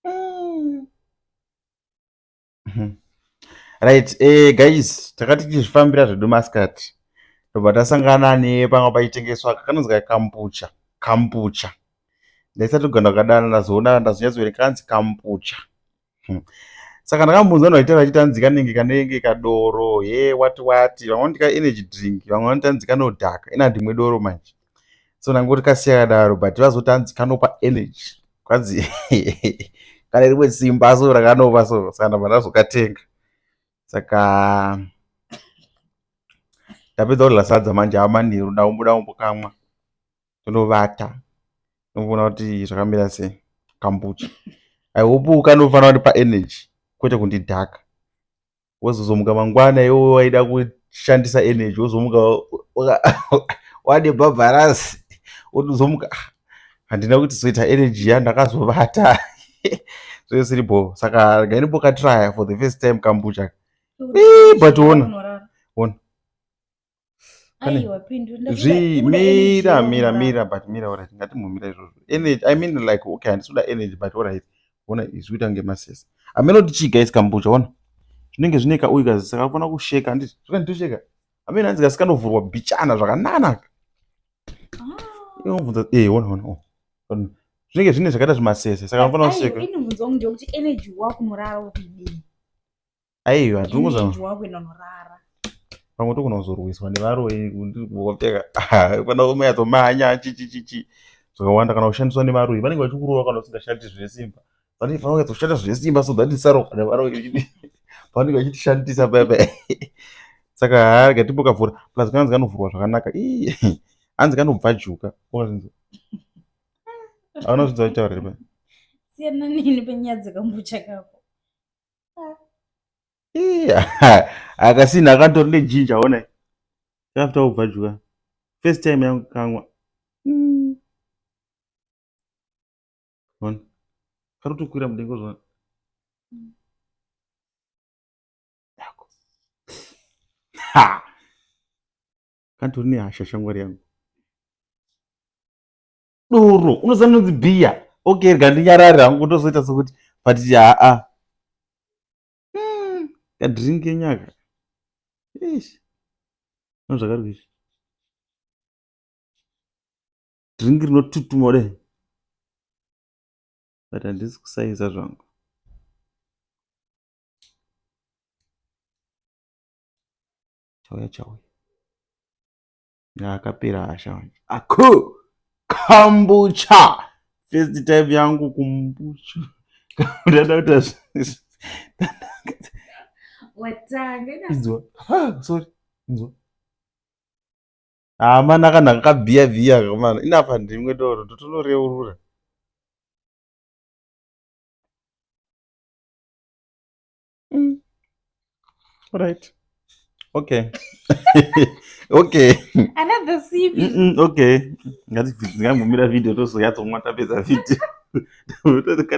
mm. Mhm. right eh, guys takati tichizvifambira zvedu maskati ndobva tasangana nepanga paitengeswa kakanonzi kambucha kambucha ndaisati kugana kukadana ndazoona ndazonyatsoverenga kanzi kambucha hmm. saka ndakambunza vanhu vaitaura vachiti anzi kanenge kanenge kadoro he wati wati vamwe vanoti ka energy drink vamwe vanoti anzi kanodhaka ina ndimwe doro manje so ndangoti kasiya kadaro but vazoti hanzi kanopa energy kwanzi kane rimwe simba so rakanopa so saka ndabva ndazokatenga saka ndapedza kudla sadza manje ava manheru ndaumbuda umbokamwa tonovata ndokuona kuti zvakamira sei kambucha i hope kanofanira kundipa energy kwete kundidhaka wozozomuka mangwana iwe waida kushandisa energy wozomuka wane bhabharasi wotozomuka ah, handina kuti zoita energy yandakazovata zvesiri bho saka gainimbokatraya for the first time kambucha but ona ona aiwa pindura zvi mira mira mira but mira orit ngatimbomira izvozvo energy i mean like okay handisuda energy but orit ona izvi kuita kunge masese ameno tichiga isi kambucha ona zvinenge zvine kauyu kazisa kakufana kusheka handiti zvakanditosheka ameno hanzi kasikangovhurwa bichana zvakananaka inomvunza ah. eh ona ona oh. zvinenge zvine zvakaita zvimasese saka anofana kusheka inobvunza kuti energy wakumurara ukudii aiwa tinozorara pamwe togona kuzorwiswa nevaroyi ndikupfeka kana ume yatomanya chichichichi zvakawanda kana kushandiswa nevaroyi vanenge vachikurova kana usingashandi zvine simba vanenge vanenge vachizoshanda zvine simba so that isaroka nevaroyi vanenge vachitishandisa bebe saka haa rega timbokavhura plus kanzi kanovhurwa zvakanaka ii hanzi kanobvajuka okazinzi anozvinza kutaura riba siyana nini penyaya dzekambucha kako akasina akatori nejinja ona after kubva dya first time yangu kamwa hmm. ona kari kutokwira mudengo zvona kantori nehasha shamwari yangu doro unoziva ndinonzi bhiya okay rega ndinyarari hangu ndozoita sokuti but haa hmm, kadrink enyaka ish no zvakari kuizvi drink rinotutuma kudai but handisi kusaiza zvangu chauya chauya akapera hasha wanje aku kambucha first time yangu kumbucha ndada kuta watanga inzwa sorry inzwa hamana ah, kana kakabhiya bhiya kamana inapa ndimwe doro ndotonoreurura mm. right okay okay another cv mm -mm, okay ngatigumira video tozoyatsomwa tapedza video